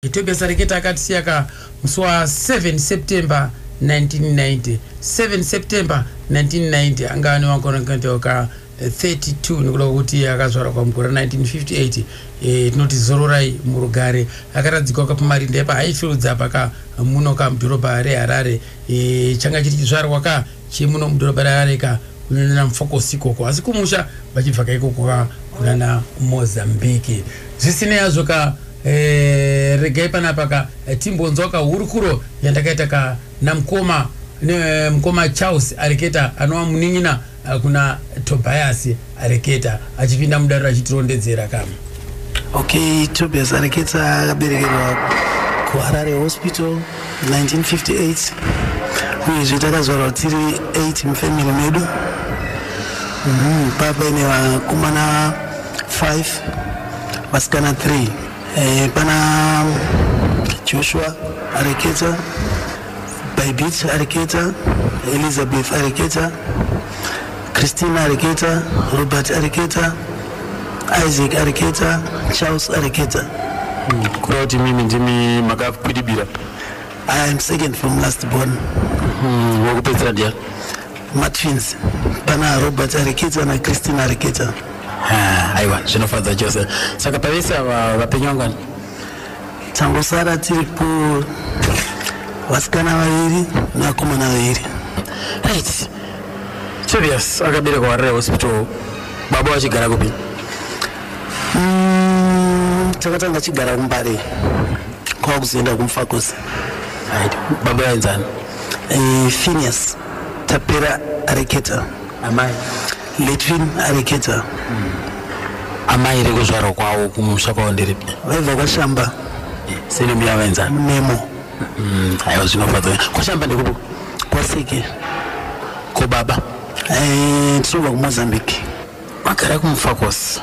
Gitebe Sareketa akatisiya ka musi wa 7 September 1990. 7 September 1990 anga ane makore ka 32 nekuda kwekuti akazvarwa pamugore 1958 e, tinoti zororai murugare akaradzikwa kapamarinda epa haifiludza apa ka muno ka mudhorobha reharare e, changa chiri chizvarwa ka chemuno mudhorobha reharare ka kunana mfokosi ikoko asi kumusha vachibva ka ikoko ka kunana mozambique zvisinei hazvo ka Eh, regai panapa ka eh, timbonzwa ka hurukuro yandakaita ka namkoma ne mkoma Charles areketa anova munin'ina eh, kuna Tobias areketa achipinda mudare achitirondedzera ka Okay, Tobias Areketa akaberekerwa kuHarare Hospital 1958 uyezve takazvarwa tiri 8 mufamily medu Mhm, papa ine vakomana 5 vasikana 3 eh, pana joshua areketa baibit areketa elizabeth areketa christina areketa robert areketa isaac areketa charles areketa hmm, kureva kuti mimi ndimi makakwidibira i am second from last born hmm, wakupedzisira ndiya matwins pana robert arikidza nachristina arikidza ah, aiwa zvinofadza chose saka pavese ava vapenyu vangani tangosara tiri ku vasikana vaviri nevakomana vaviri right serious akaberekwa warare hospital baba vachigara kupi mm, takatanga chigara kumbare kwava kuzoenda kumfakosi right baba vainzani eh, finias tapera areketa amai letrin areketa amai rekuzvarwa kwavo kumusha kwavo ndiripi vaibva kwashamba senemu yavaenzana nemo Mm, aiwa zvinofadza kwashamba ndekupo kwaseke ko baba Eh, tinobva kumozambique Magara kumufakos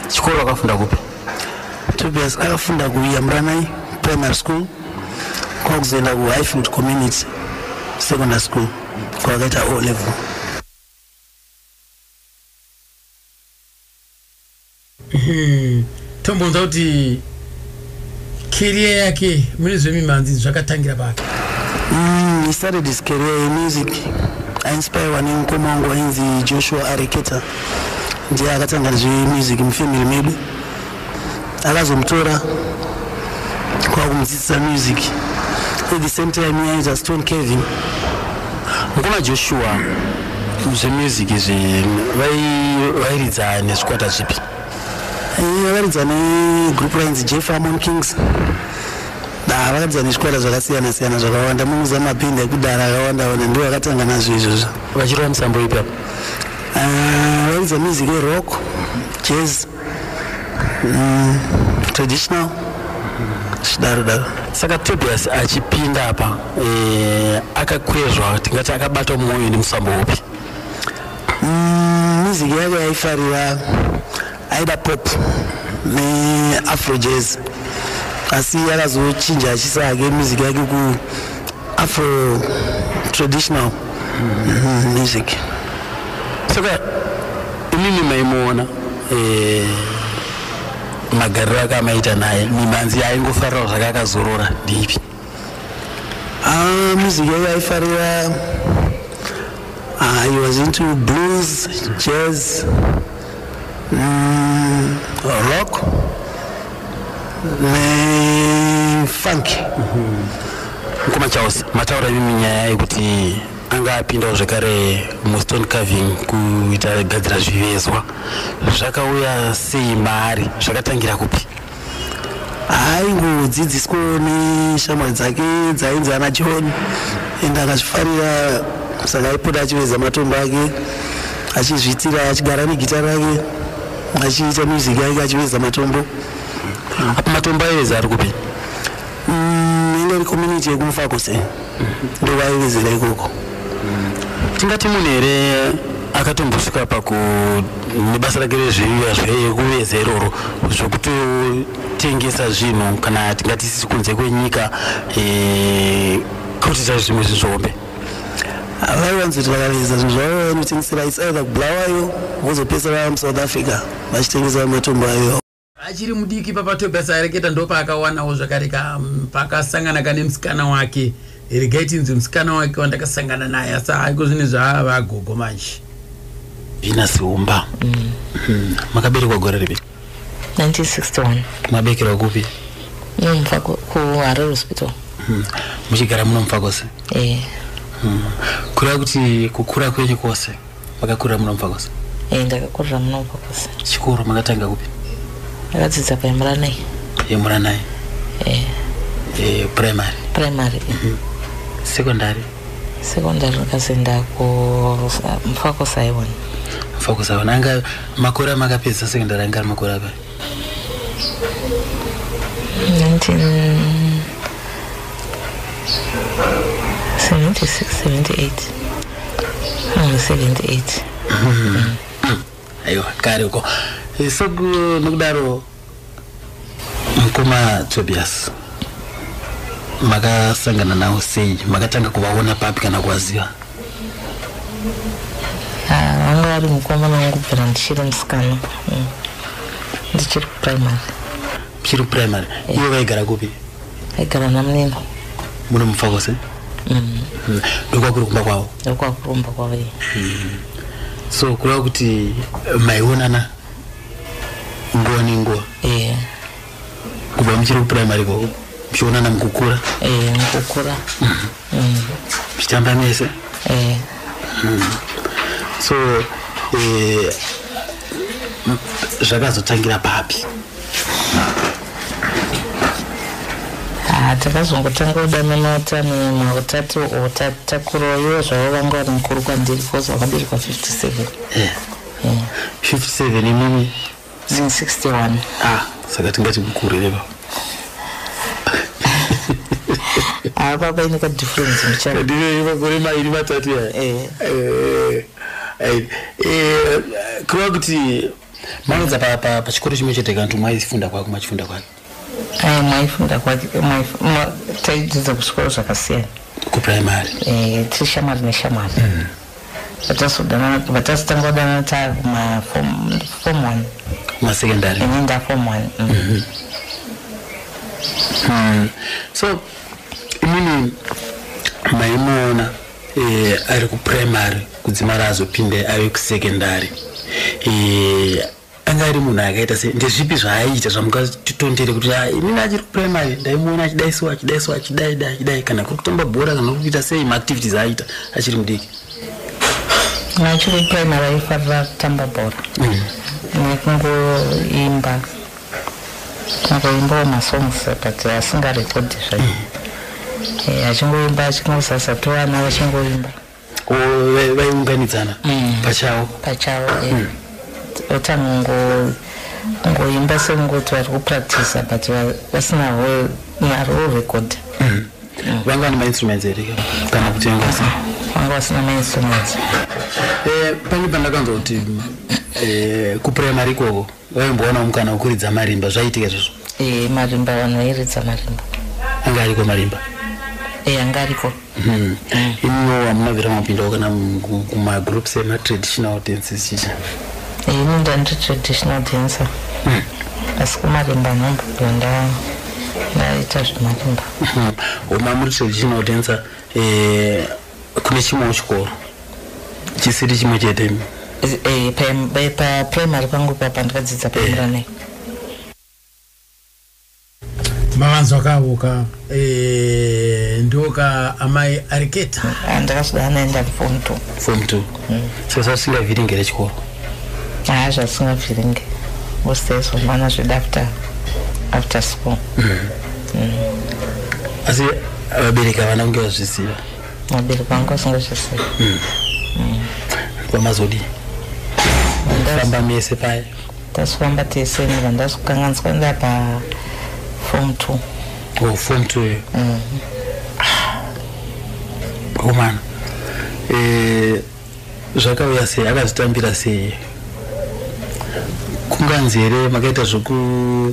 chikoro akafunda kupi? Tobias akafunda kuYamranai Primary School kwakuzoenda kuHighfield Community Secondary School kwakaita O level. Hmm. Tombonza kuti Career yake mune zvemimhanzi zvakatangira papi? Mm, he started his career in music. I inspire one in Komongo in the Joshua Areketa. Ndiye akatanga zve music mu family medu. Akazomutora kwa kumudzidzisa music. At the same time he is a Stone Kevin. Ngoma Joshua zve music zve vai vairidza nezvikwata zvipi? vakaridza negroup rainzi jeff amon kings ah, vakaridza nezvikwata zvakasiyana siyana zvakawanda munoziva mapindi ekudhara akawanda wanda ndivo vakatanga nazvo izvozvo vachirova musambo ipi apo ah, vakaridza music yerock jazz mm, traditional zvidaro daro saka tobias achipinda apa eh, akakwezva tingati akabatwa mwoyo nemusambo upi Mm, music yake yaifarira aida pop neafro jazz asi akazochinja achisa hake music yake ku afro traditional mm, music saka imimi maimuona eh, magariro ake amaita naye mimanzi yaingofarirawo zvake akazorora ndiipi Ah, music yangu yaifarira ah, I was into blues, jazz, mm, rock nefunk mkoma charles mataura imimi nyaya yekuti anga apindawo zvekare mustone carving kuita gadzira zvivezwa zvakauya sei maari zvakatangira kupi aiwodzidziswawo neshamwari dzake dzainzi ana john and akazvifarira saka aipota achiveza matombo ake achizviitira achigara negita rake achiita music yake achiveza matombo apa matombo aiveza ari kupi Mm, inga iri community yekumufakuse ndovaivezera ikoko tingati munhu here akatombosvika paku nebasa rake rezveiya zvekuveza iroro zvokutotengesa zvinhu kana tingati sisi kunze kwenyika eh, kutita zvimwe zvinhu zvihombe vaiwanzi kuti vakaveza zvinhu zvavo vainotengesera its either kubulawayo vozopesera vamusouth africa vachitengesa matombo ayo achiri mudiki papa tobias aereketa ndopaakawanawo zvakare ka mm, pakasangana kane musikana wake regai tinzi musikana wake wandakasangana naye asi haiko zvine zvaava agogo manje zvina siumba mm. mm. makaberekwa gore ripi 1961 mabekerwa kupi nomfa kuharare hospital mm. muchigara munomfa kwose e eh. kureva kuti kukura kwenyu kwose makakurira muno mupfakosa e eh, ndakakurira muno mupfakosa chikoro makatanga kupi ndakadzidza paemuranai emuranai e eh. e eh, primary primary mm -hmm. secondary secondary ndikazoenda kumufakosaiwona mufakosaiwona anga makore amakapedza secondary anga ari makore apai aiwa kare uko soku nokudaro mukoma tobias makasangana nawo sei makatanga kuvaona papi kana kuvaziva Ah, anga ari mukomana wangu kubvira ndichiri musikana mm. ndichiri kuprimary chiri primary iwe vaigara kupi aigara namunini muno mufakose mm. ndokwakuri kumba kwavo ndokwakurumba kwavo iye so kureva kuti eh, maionana nguva nenguva yeah. kubva muchiri kuprimary koko muchionana mukukura eh, mukukura muchitamba mm. mm. mese eh. mm. so eh, zvakazotangira papi ah, takazongotanga kudanana tani mautatu o tatakuroyo zvavo vanga vari mukuru kwandiri bcause vakaberekwa 57 57 imimi zin 61 ah saka tingati mukuru here baba ah baba ine ka difference muchana ndive makore mairi matatu ya eh eh eh, eh kureva kuti maedza pa pa pachikoro chimwe chete kantu mwaifunda kwako machifunda kwako Aya maifunda kwake taidzidza kuchikoro zvakasiyana kuprimary eh, tiri shamwari neshamwari mm. vatazotanga kudanana taa kumafom one masecondary ini ndafom one mm. mm-hmm. mm. so imini maimuona eh, ari kuprimary kudzimara azopinde ave kusecondary eh, anga ari munhu akaita se ndezvipi zvaaiita zvamungatitondere kuti ah, inini achiri kuprimary ndaimuona achidaisiwa achidaisiwa achidai dai achidai kana kuri kutamba bhora kana kuri kuita sei maactivities aaita achiri mudiki achiri primary aifarira kutamba bhora mm. nekungoimba angoimbawo masongs but asingarekodhi zvaio mm. eh, achingoimba achingosasatoana achingoimba vaiunganidzana mm. pachavo pachavo eh. mm. otanongo ngoimba sengoti vari kupractisa but vasina naro record mm. vanga vane mainstruments here kana kutengasa vanga vasina mainstruments eh, pane pandakanzwa kuti eh, kuprimary ikoko Waimboona mukana wekuridza marimba zvaiitika izvozvo? Eh, marimba vanhu vairidza marimba. Anga ariko marimba? Eh, anga ariko. Hmm. Mm. Ino hamuna vira mapindawo kana kumagroups ematraditional dances chicha? Eh, ini ndandi traditional dancer. Hmm. Asi kumarimba nhombo ndaa ndaita zvemarimba. Hmm. Uma muri traditional dancer eh, kune chimwewo chikoro chisiri chimwe chete eh, paprimary pangu papa ndikadzidza eh. pamranei mavanzwa kavo ka eh, ndoka amai ariketa ah, ndakasvida anaenda fom t fom t hmm. sezasingavhiringere chikoro haa zvasingavhiringe usaiso mwana zveda after after school asi vabereki havana kunge vazviziva vabereki vangu vasingazviziva kwamazodii famba mese paya tasifamba tese ni vanhu ndasikukanganiswa nda pa form two o form two yo komana Eh, Zvakauya sei akazvitambira sei kunganzi here makaita zvekudzingwa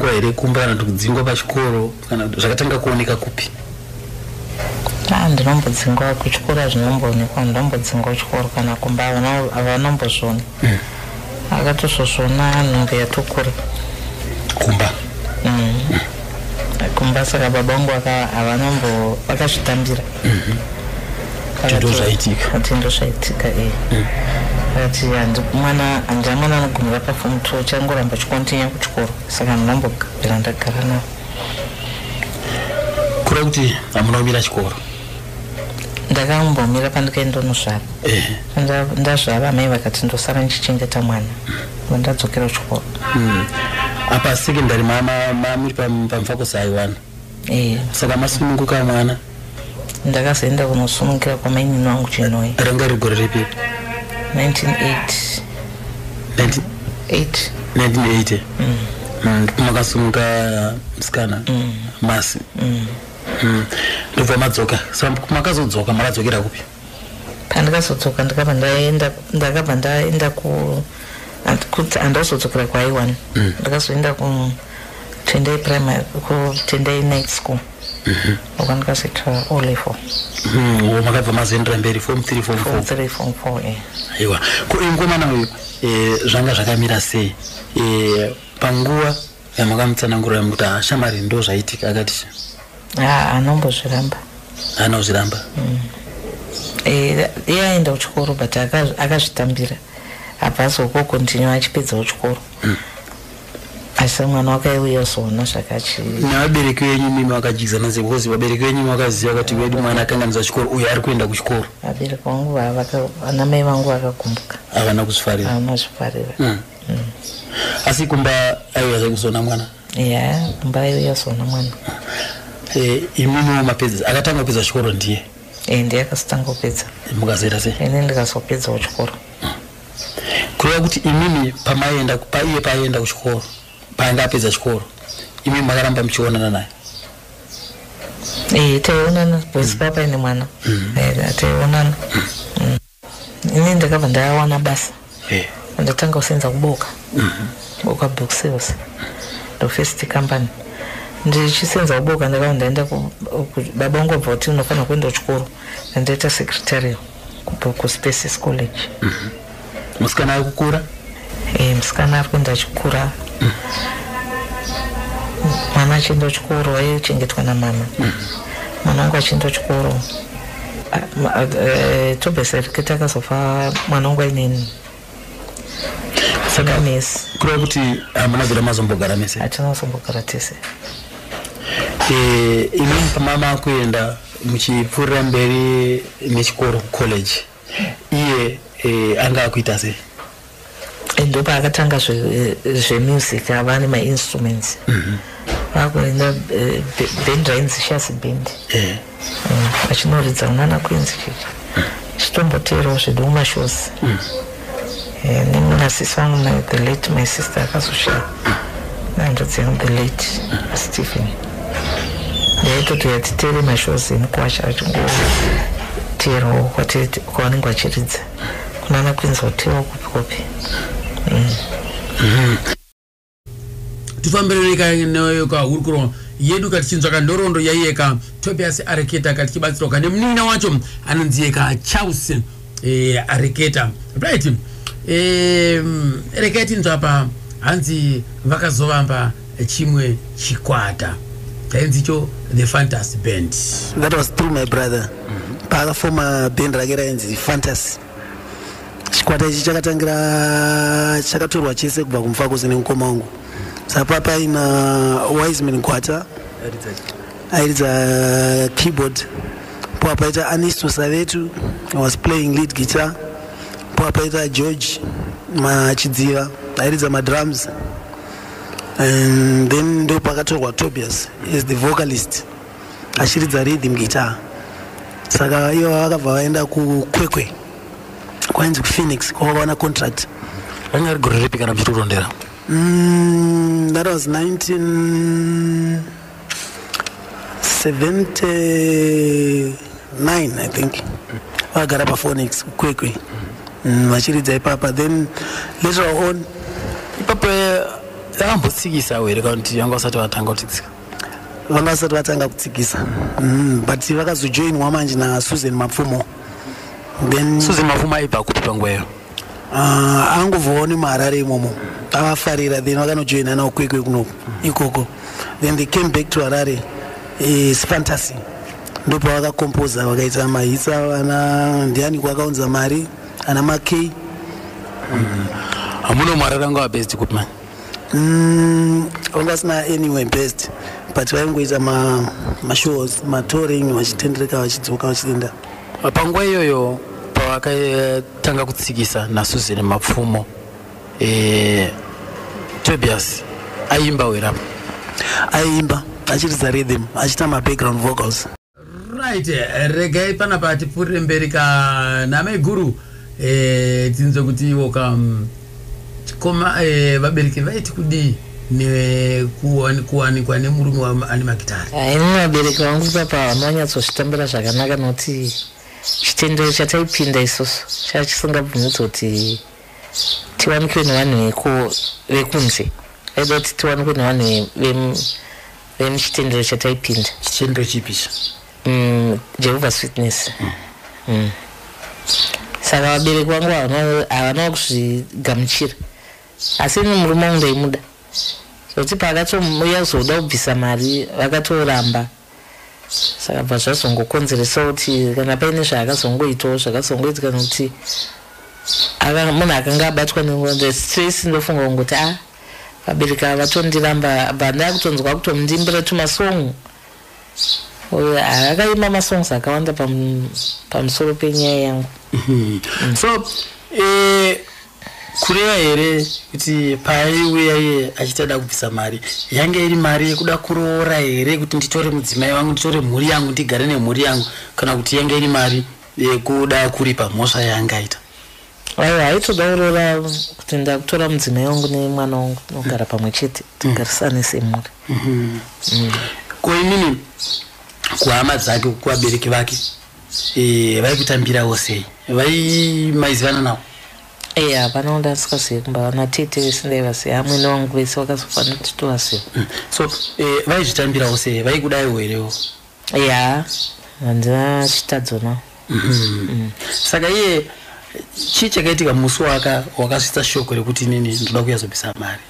eh, here kumba kana kuti kudzingwa pachikoro kana zvakatanga kuoneka kupi ah, ndinombodzingwa kuchikoro hazvinomboonekwa ndinombodzingwa kuchikoro kana kumba havanombozviona mm. akatozvozviona nhumbu yatokura kumba mm. kumba saka baba vangu havanombovakazvitambira Kuti ndozvaitika. Kuti ndozvaitika eh. Mm. Ati handi mwana handi mwana anogumira pa form 2 changoramba chikontinya kuchikoro saka ndinombo gara ndagara nawo. Kura kuti amuna kumira chikoro. Ndakambomira pandikaenda ndozvara. Eh. Ndazvara mai vakati ndosara ndichichengeta mwana. Mm. Ndadzokera kuchikoro. Mm. Apa secondary mama mama muri pamfako sai wana. Eh. Saka masununguka mwana? Ndakazoenda kunosunungukira kwamainini wangu Chinhoyi. Ranga riri gore ripi? 1980. 1980. 1980. Mm. Mm, makasununguka msikana? Mm. Masi. Mm. Mm. Ndobva madzoka. Saka makazodzoka makadzokera kupi? pandakazodzoka ndakabva ndaenda ndakabva ndaenda ku kuti andazodzokera kwaiwan mm. ndakazoenda ku tendai primary ku tendai night school mm-hmm. uko ndikazoitwa o level mm, makabva mazoendera mberi form three form four three form four eh. aiwa ko mukomana uyu eh, zvanga zvakamira sei eh, panguva yamukamutsanangurira mukuti ah, shamari ndo zvaitika akati ah, anombozviramba anozviramba mm. eh, iye aenda kuchikoro but akazvitambira abva azokokontinue achipedzawo chikoro mm asi mwana wakaiuya soona zvakachi nevabereki venyu mimi vakajidzana sei because vabereki venyu vakaziva kuti vedu mwana akanganiza chikoro uyo ari kuenda kuchikoro vabereki vangu vanamai vangu vakagumbuka havana kuzvifarira havana kuzvifarira hmm. asi kumba aiuya zve kuzona mwana ya kumba aiuya zona mwana eh, imimiwo mapedza akatanga kupedza chikoro ndiye eh, ndiye akazotanga kupedza mukazoita se ini ndikazopedzawo chikoro kureva kuti imimi pamaienda paiye paaienda kuchikoro paanga apedza chikoro imimi makaramba muchionana naye eh, taionana boys mm. papa ine mwana mm. eh, taionana mm. ini ndakabva ndawana basa eh. ndatanga kusenza kuboka mhm. boka book sales ndo first company ndichisenza kuboka ndakabva ndaenda baba vangu vabva kuti unofanira kuenda kuchikoro ndandaita secretarial kuboku spaces college mhm. musikana wekukura mm -hmm. Eh, musikana ari kuenda chikura mwana achienda chikoro aichengetwa namama mwana wangu achienda chikoro eh, tobesereketa akazofa mwana wangu ainini saka mese kureva kuti hamuna zera mazombogara mese hatina mazombogara tese eh, imi pamama kuenda muchipfuurira mberi nechikoro college iye eh, anga akuita sei ndopa akatanga zvemusic zve eh, ava ane mainstruments mm -hmm. vakuenda eh, bend rainzi shasi bend eh. mm, achinoridza yeah. mm, unana kuinzi chichi mm. chitomboteerawo zvedu mumashows mm. Nini nasisi vangu my the late my sister akazoshaya nandodzi yangu the late Stephen ndaitoti yatitere mashows emukwasha achingoteerwawo kwavanenge vachiridza kunana kwinzi hotewa kupi kupi mm. mm. tifambirane ka neyo ka hurukuro yedu ka tichinzwa ka nhoroondo yaiye ka tobias areketa ka tichibatsirwa ka nemunin'ina wacho anonzi ye ka charles eh, areketa right eh, rekai tinzwa pa hanzi vakazovamba chimwe chikwata chainzi cho the fantasy band that was through my brother mm -hmm. paakafoma band rake rainzi fantasy chikwata ichi chakatangira chakatorwa chese kubva kumufakosi nemukoma wangu sapa paina wiseman gwata airidza keyboard poa paita anisto savetu was playing lead guitar poa paita george machidziva airidza madrums and then ndo pakatorwa tobias as the vocalist achiridza rhythm guitar saka ivo vakabva vaenda kukwekwe kwainzi kuphoenix kwavakaona contract ranga ari gore ripi kana muchitorondera mm, that was 1979 i think vagara paphoenix kukwekwe mm, vachiridza ipapa then later on ipapo eh, akambotsikisa were kana kuti vanga vasati vatanga kutitsika vanga vasati vatanga kutsikisa mm, but vakazojoinwa manje nasusan mapfumo then susan mapfumo aibva kupi panguva iyo uh, angovawo nemaharare imomo avafarira then vakanojoina nawo kwekwe kuno ikoko then they came back to harare is eh, fantasy ndopavakakompoza vakaita mahitsa vana ndiani kwakaunza mari ana makey mm. hamuno mwarara ngawabesti kupi mani Mm, vanga vasina anyway best but vaingoita mashows matouring vachitendereka vachidzoka vachienda panguva iyoyo pavakatanga kutsikisa nasuzen mapfumo e, tobias aiimba werapa aiimba achiridza rhythm achiita mabackground vocals right eh, regai panapa tipfuurire mberi ka namaiguru eh, tinzwe kuti iwo ka mm, chikoma eh, vabereki vaiti kudii nekuwanikwa nemurume waane magitari ah, ini vabereki vangu ipapa havana vanyatsozvitambira zvakanaka nokuti chitendero chataipinda isusu chaa chisingabvumidzi kuti tiwanikwe nevanhu vekunze aida kuti tiwanikwe nevanhu then chitendero chataipinda chitendero chipi icho mm, jehovah's witness mm. Mm. saka vabereki vangu havana kuzvigamuchira asi ini murume wangu ndaimuda zvokuti paakatomuya kuzoda kubvisa mari vakatoramba saka bva zvazongokonzeresa kuti kana paine zvaakazongoitawo zvakazongoitika nokuti munhu akanga abatwa nengozi stress ndofunga kungoti a ah, Vabereki ava vatondiramba but ndakutonzwa kutomundimbira tumasong uyo akaimba masongs akawanda pamusoro penyaya yangu mm. so eh, kureva here kuti paaiuya iye achiita da kubvisa mari yange iri mari yekuda kuroora here kuti nditore mudzimai wangu nditore mhuri yangu ndigare nemhuri yangu kana kuti yange iri mari yekuda kuripa mhosva yaangaita Aiwa haitoda kuroora kuti ndakutora mudzimai wangu nemwana wangu tinogara pamwe chete tigarisane semhuri. Mhm. Mm. Ko inini kuhama dzake kuvabereki vake eh, vaikutambirawo sei? Vai maizivana nawo? Eh hapana wanda asikazivi kumba vana tete vese ndaivaziva amwene wangu vese vakazofanira kuti tovaziva. Mm. So eh, vaizvitambirawo sei? Vaikudaiwo herewo? ya hanzi vachitadzo now mm-hmm. saka iye chii chakaitika musi waka wakasvitsa shoko rekuti inini ndoda kuyazobisa mari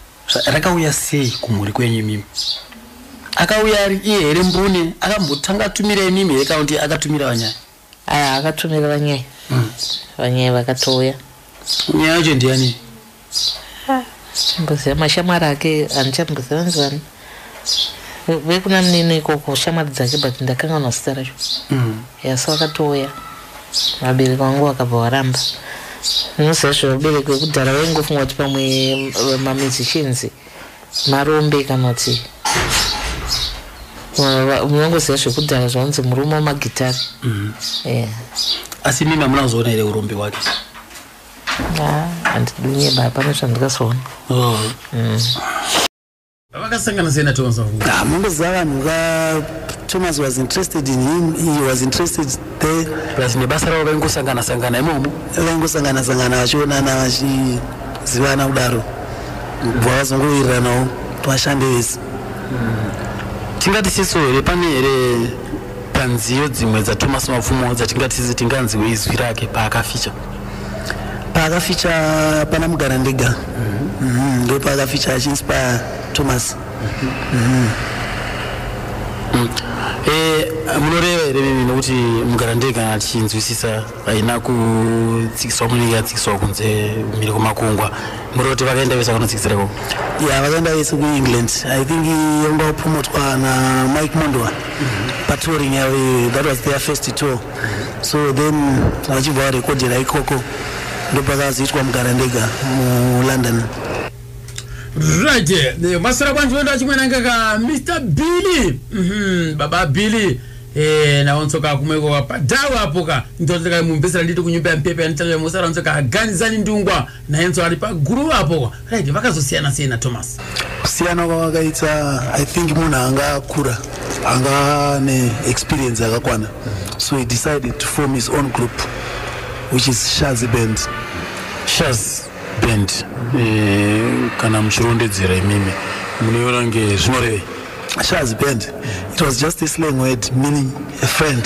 rakauya sei kumhuri kwenyu imimi akauya ari iye here mbune akambotanga atumira imimi here kaunti akatumira vanyaya aya akatumira vanyai mm. vanyai vakatouya nyaya yacho ndiyani mboziva mashamwari ake handichamboziva vanzi vani vekuna munini ikoko shamwari dzake but ndakanganwa zita racho mm. yasi vakatouya vabereki vangu vakabva varamba unoziva zvevabereki vekudhara vaingofunga kuti pamwe mamusicians Marombe kana kuti munongoziva zvekudhara zvaunzi murume wemagitari mm. eh. asi mimi amuna kuzoona here urombe wake ah, handidunye baa pane zvandikazoona oh. mm. vakasangana sei natomas ah, mamboziva vanhu vatomas was interested in him he was interested there plus nebasa ravo vaingosangana sangana imomo vaingosangana sangana vachionana vachi zivana kudaro kubva vazongowiriranawo kuti vashande vese tingati siso here pane here panziyo dzimwe dzatomas mapfumo dzatingatisi tinganziwe izwi rake paakaficha paakaficha pana mugara ndega mhm, ndo paakaficha achiinspire thomas mhm. mm. eh, munoreva here mimi nokuti mugara ndega achinzwisisa haina kutsikiswa munenge yatsikiswa kunze mhiri kwemakungwa muri kuti vakaenda vese vakanotsikisira ikoko ya vakaenda vese kuengland i think yanga wapromotwa namike mondwa patouring yavo eh, that was their first tour so then vachibva varekodhera ikoko ndopakazoitwa mugara ndega mulondon right eh, masara kwanje oenda chimwe nangaka mr billy mhm, baba billy Eh, naonsoka kumweko wapadhawa apo ka ndonzeka mumbesera nditi kunyumba yampepe yanitanga musara onsoka aganizani ndungwa nayenso ari paguru apo kwa right vakazosiyana sei na thomas kusiyana kwavakaita i think munhu anga akura anga ane experience yakakwana so he decided to form his own group which is shazi band shaz band eh, kana muchirondedzera imimi munoiona kunge zvinorevei Shaz band. It was just a slang word meaning a friend.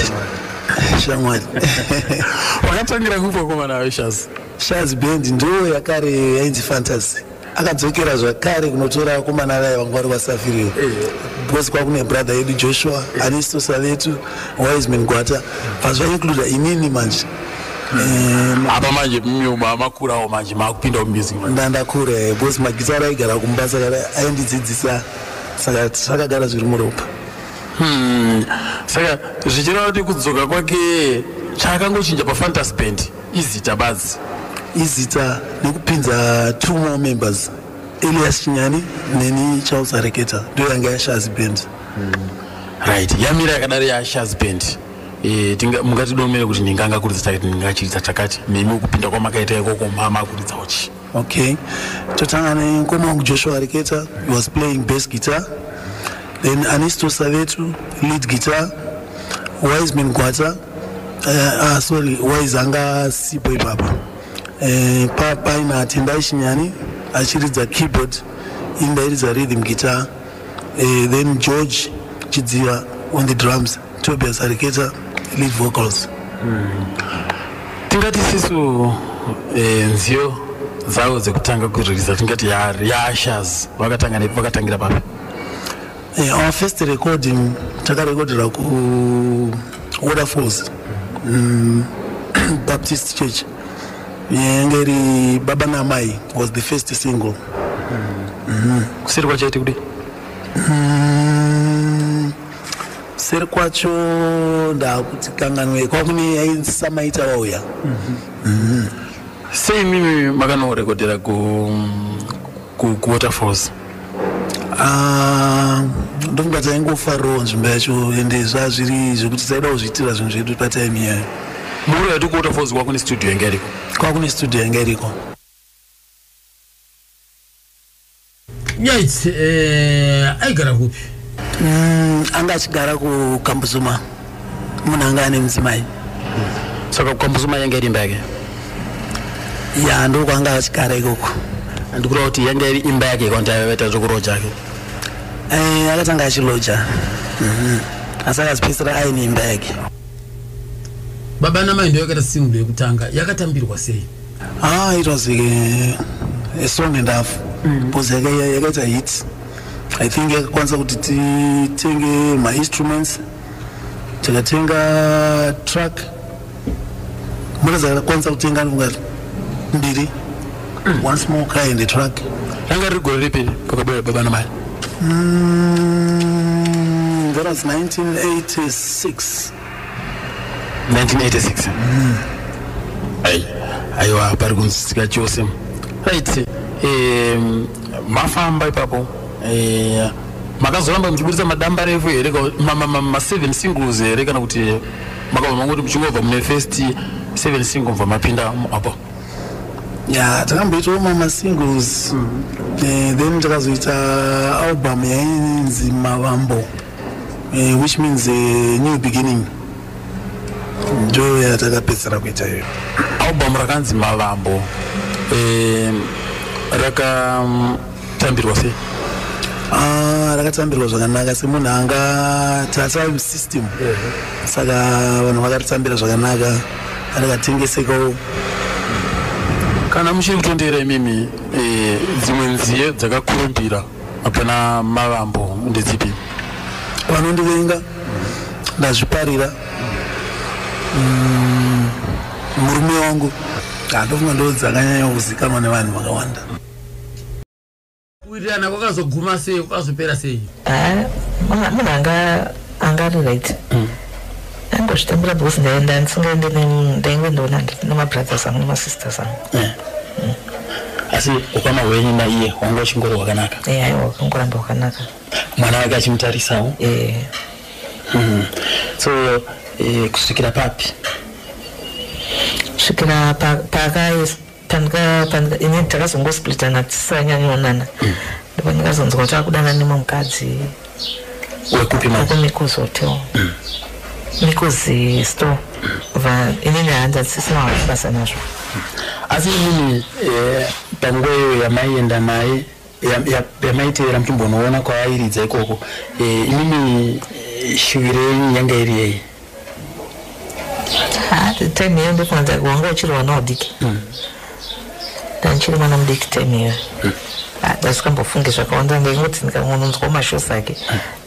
Shamwari. Wakatangira kupo komana we Shaz. Shaz band ndiyo yakare yainzi fantasy. Akadzokera zvakare kunotora komana vaye vanga vari vasafirio. Eh. Because kwakune brother yedu Joshua, eh. Anisto Savetu, Wiseman Gwata. Vazva include inini manje. Eh, apa manje makurawo manje makupinda mumusik ndandakura eh, bcause magitara aigara kumbasa aendidzidzisa saka zvakagara zviri muropa hmm. saka zvichireva kuti kudzoka kwake chaakangochinja pafantasy band izita badzi izita nekupinza two more members elias chinyani neni charles areketa ndo yanga yashazi band hmm. right yamira yakadari yashazi band Eh, mungatidomere kuti ndinganga kuridza takati ndingachiridza takati nemi kupinda kwamakaita ikoko mama kuridza uchi Okay, totanga nemukoma wangu Joshua Reketa, he was playing bass guitar. Then Anisto Savetu, lead guitar. Wiseman Gwata, uh, eh, ah, sorry, Wise anga sipo ipapa. Uh, eh, pa paina Tendai Shinyani achiridza keyboard, indairidza rhythm guitar. Uh, then George Chidziva on the drums. Tobias Ariketa lead vocals mm. tingati sisu eh, nziyo dzavo dzekutanga kuririza tingati yaashas vakatanga nepi vakatangira papi eh, our first recording takarekodera ku waterfalls mm, baptist church yenge iri baba namai was the first single mm. mm. kusiri kwachaiti kudii mm. seri kwacho ndakuti kanganwe kwakune yaisamaita wauya mhm. sei mimi makanorekodhera kuwaterfalls ah, ndofunga taingofarirawo nzvimbo yacho ende zvazviri zvekuti taida kuzviitira zvinhu zvedu patime iyayo muro yati kuwaterfalls kwakune studio yanga iriko kwakune studio yanga iriko Nyaitsi eh, aigara kupi? Mm, anga achigara kukambuzuma munhu anga ane mudzimai saka kukambuzuma yanga iri imba yake ya ndiko kwaanga achigara ikoko andikureva kuti yanga iri imba yake kwanti aivaita zvekuroja ake eh, akatanga achiloja mhm. asi akazipedzisira aine imba yake baba namai ndoyakaita single yekutanga yakatambirwa sei Ah, it was like a, a song and half mm. because mm. yakaita hit i think yakakwanisa kuti titenge mainstruments tikatenga truck mota dzakakwanisa kutenga ndifunga mbiri mm. one small car and a truck ranga riri gore ripi pakabera baba namai mm, that was 1986 1986 mm. ai aiwa pari kunzwisika chose right um, mafamba ipapo uh, makazoramba muchiburitsa madamba refu here maseven singles here kana kuti makabva mangoti muchingobva mune first seven single mva mapinda apo ya takamboitawo mama singles mm. eh, then takazoita album yainzi mavambo uh, which means a eh, new beginning ndo yatakapedzisira kuita iyo album rakanzi mavambo eh, rakatambirwa sei Ah, rakatambirwa zvakanaka semunhu anga tatime system saka vanhu vakaritambira zvakanaka rikatengesekawo kana muchiri kutondera imimi eh, dzimwe nziye dzakakurumbira hapana mavambo ndedzipi vanondivenga ndazviparira mm, murume wangu andofunga ndo dzakanyanya kuzikanwa nevanhu vakawanda kuwirirana kwakazoguma sei kwakazopera sei munhu anga anga riright mm. Ndaingozvitambira because ndaenda ndisingaende nemunhu ndainge ndoona handiti nemabrothers angu nemasisters angu. Eh. Mm. Asi ukama hwenyu naiye wanga uchingori wakanaka? Eya, eh, aiwa wakangoramba wakanaka. Mwana wake achimutarisawo? Eh. Mm. So eh, kusvikira papi? Kusvikira pa, pakaisa pandika pandika ini takazongosplitana tisanyanyoonana mm. ndipo ndikazonzwa kuti akudana nemwe mukadzi wekupi makumikozi hotel mm. mikozi store va inini hanza dzisina wakubasa nazvo mm. asi inini eh, panguva iyo yamaienda naye yamaiteera muchimbonoona kwavairidza ikoko eh, inini eh, shuviro yenyu yanga iri yei time iyo ndofunga dzake wanga uchiri wana udiki hmm. ndandichiri mwana mudiki time iyo hmm. ah, ndasikambofunge zvakawanda ndaingoti ndikangononzwa mashosi ake hmm.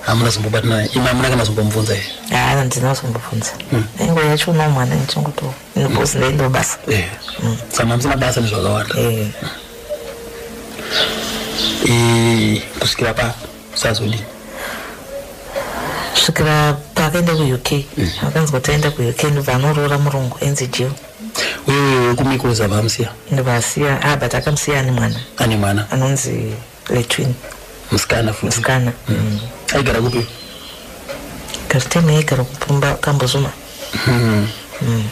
hamuna zombobatana imi hamuna kana zombomubvunza here haa handina zombobvunza hmm. ingo yacho uno mwana ndichingotoo because hmm. ndaindo basa eh. hmm. saka mamusina basa nezvakawanda eh. eh, kusvikira pa sazodii kusvikira paakaenda kuuk akanzi kuti aenda kuuk ndobva anoroora murungu enzi jill uye kumikoza vamusiya ndivasiya ah but akamusiya ane mwana ane mwana anonzi letwin musikana musikana mm. aigara kupi karitema yaigara kupumba kambozuma mm. mm.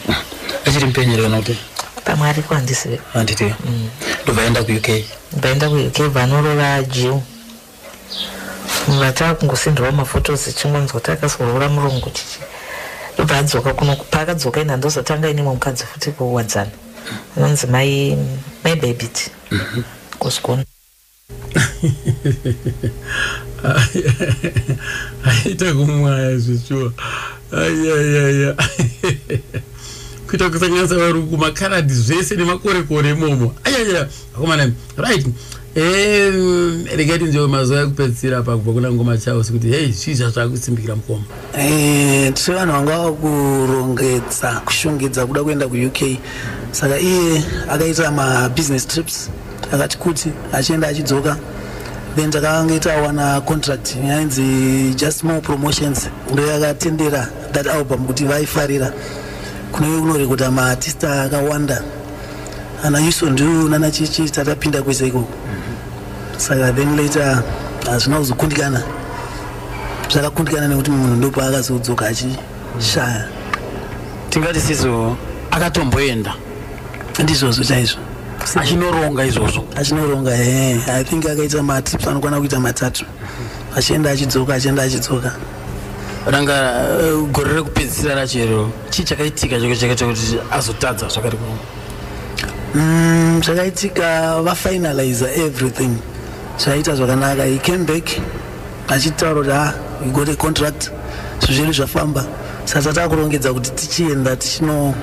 achiri mupenyere kana kuti pamwe ariko handisive handiti mm. ndobva aenda kuuk ndobva aenda kuuk vanorova jiu vatava kungosindirwa mafotos ichingonzwa takasoroora murungu chichi ndobva adzoka kuno paakadzoka ina ndozotanga inemwe mukadzi futi kuwadzana anonzi mai mai bebiti kosikona aita kumwaya zvechuwa ayayaya kuita kusanganisa varungu makaradhi zvese nemakorekore imomo ayaya akomana right regai tinzvewo mazuva ekupedzisira pakubva kuna ngoma chaos kuti hei zvii zvazvakusimbikira mukoma Eh, tiri vanhu vanga vakurongedza kushongedza kuda kuenda kuuk saka iye akaita mabusiness trips akati kuti achienda achidzoka then takanga tawana contract yainzi just more promotions ndo yakatendera that album kuti vaifarira kunenge kunorekoda maartista akawanda ana yuso ndu nana chichi tatapinda kwese ikoko saka then later hazvina kuzokundikana zvakakundikana nekuti munhu ndopaakazodzoka achishaya tingati sizo akatomboenda ndizvozvo chaizvo achinoronga izvozvo achinoronga e i think akaita matips anokwana kuita matatu achienda achidzoka achienda achidzoka ranga eh, gore rekupedzisira rachero chii chakaitika chakaitika kuti azotadza zvakati Mm, zvakaitika mm, vafinalizer everything zvaita zvakanaka he came back achitaura kuti ah you got a contract zvizviri zvafamba saka tatava kurongedza kuti tichienda tichinoita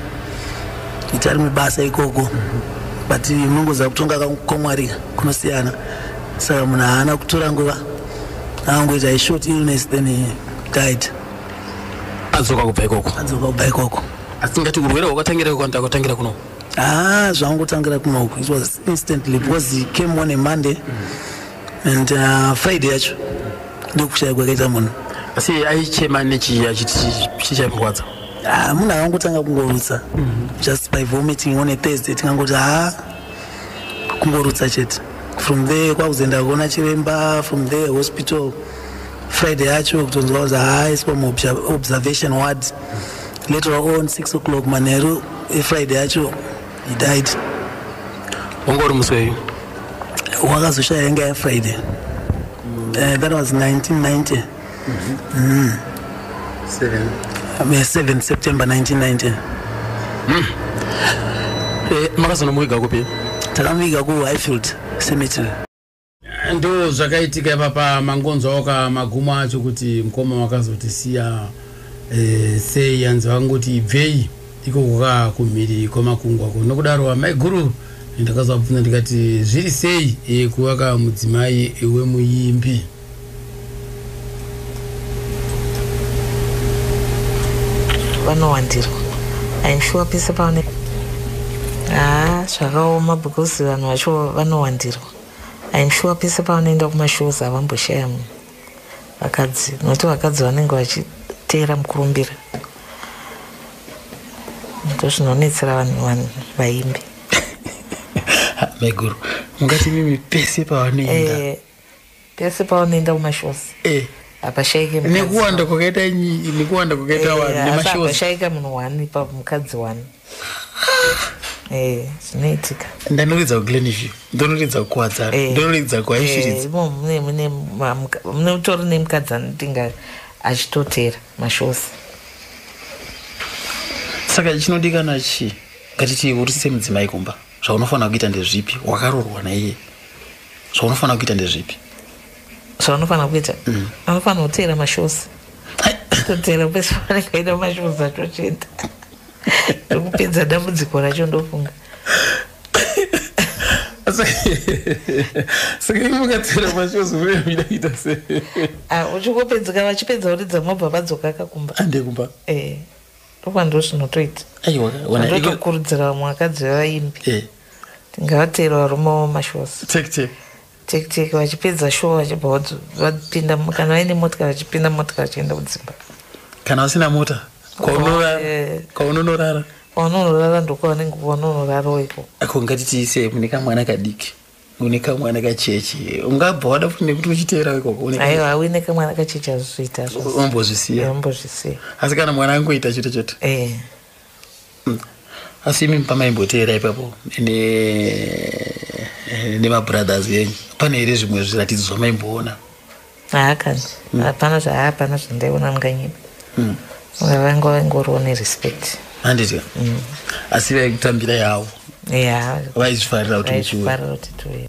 rimwe basa ikoko but munongoziva kutonga kwamwari kunosiyana saka munhu haana kutora nguva angoita a short illness then he died adzoka kubva ikoko adzoka kubva ikoko asi tingati urwere hwakatangira kwanta kwatangira kuno ah zvangotangira kuno it was instantly because he came on a monday and uh, friday yacho ndokushaya kwakaita munhu asi aichema nechii achiti chii chaimurwadza ah, munhu akangotanga kungorutsa mm-hmm. just by vomiting on a thursday tingangoti ha ah, kungorutsa chete from there kwakuzoenda kuona chiremba from there hospital friday yacho kutonzwa kuzi haaiswa muobservation ward later on six o'clock manheru efriday yacho he died wanga uri musi weyu wakazoshaya yanga yafriday eh, that was 1990 mm-hmm. mm. 7 september 1990 mm. eh, makazonomuviga kupi takamuviga kuhighfield cemetery ndo zvakaitika ipapa mangonzwawo ka magumo acho kuti mukoma wakazotisiya e, sei yanzi vakangoti ibvei ikoko ka kumhiri kwemakungwa ko nokudaro amaiguru ndakazovabvunza ndikati zviri sei e, kuva ka mudzimai wemuimbi vanowandirwa im sure pese paone haa zvakaoma because vanhu vacho vanowandirwa I'm sure pese pavanoenda kumashows havamboshaya munhu vakadzi nokuti vakadzi vanenge vachiteera mukurumbira ndozvinonetsera vanhu vanhu vaimbi maiguru mungati mimi pese pavanoenda eh, pese paunoenda kumashows eh. hapashaike nekuwanda kwakaita nekuwanda kwakaita eh, vanhu nemashows hapashaika munhu wani pa mukadzi wani eh, zvinoitika ndanoridza kuglenview ndonoridza kukwadzana eh. ndonoridza kuaishiridza mune utori nemukadzi anotinga achitotera mashows saka chinodikana chii ngatiti uri semudzimai kumba zvaunofanira kuita ndezvipi wakarorwa naiye zvaunofanira kuita ndezvipi zvaunofanira kuita mm. anofanira kuteera mashows toteera pese panenge aita mashows acho chete ndokupedza dambudziko racho ndofunga saka imi mukatera mashozi mune muida kuita se ah, uchingopedzeka vachipedza uridza mobva vadzoka kakumba ande kumba eh, ndokuva ndo zvinotoita aiwa ndotokurudzira vamwe vakadzi vevaimbi eh. Ngavatero varume avo mashows. Take take. Take take vachipedza show vachibva vodzi vapinda kana vaine motika vachipinda motika vachienda kudzimba. Kana usina mota kwaunorara eh. kwaunorara kwaunorara ndokwavanenge kwaunorara uko. Ako ngatitiise mune kamwana kadiki une kamwana kacheche ungabva wada futi nekuti uchiteera ikoko aiwa auine kamwana kacheche azvizoita ombozvisiya ombozvisiya asi kana mwana angoita chete chete eh. asi imi pamaimboteera ipapo nemabrothers enyu pane here zvimwe zviratidzo zvamaimboona haakani hmm. hapana zvaapana zvandaiona munganyima hmm. vanga vaingoriwo nerespect handiti hmm. asi vaikutambira yavo vaizvifarira kuti muchiuya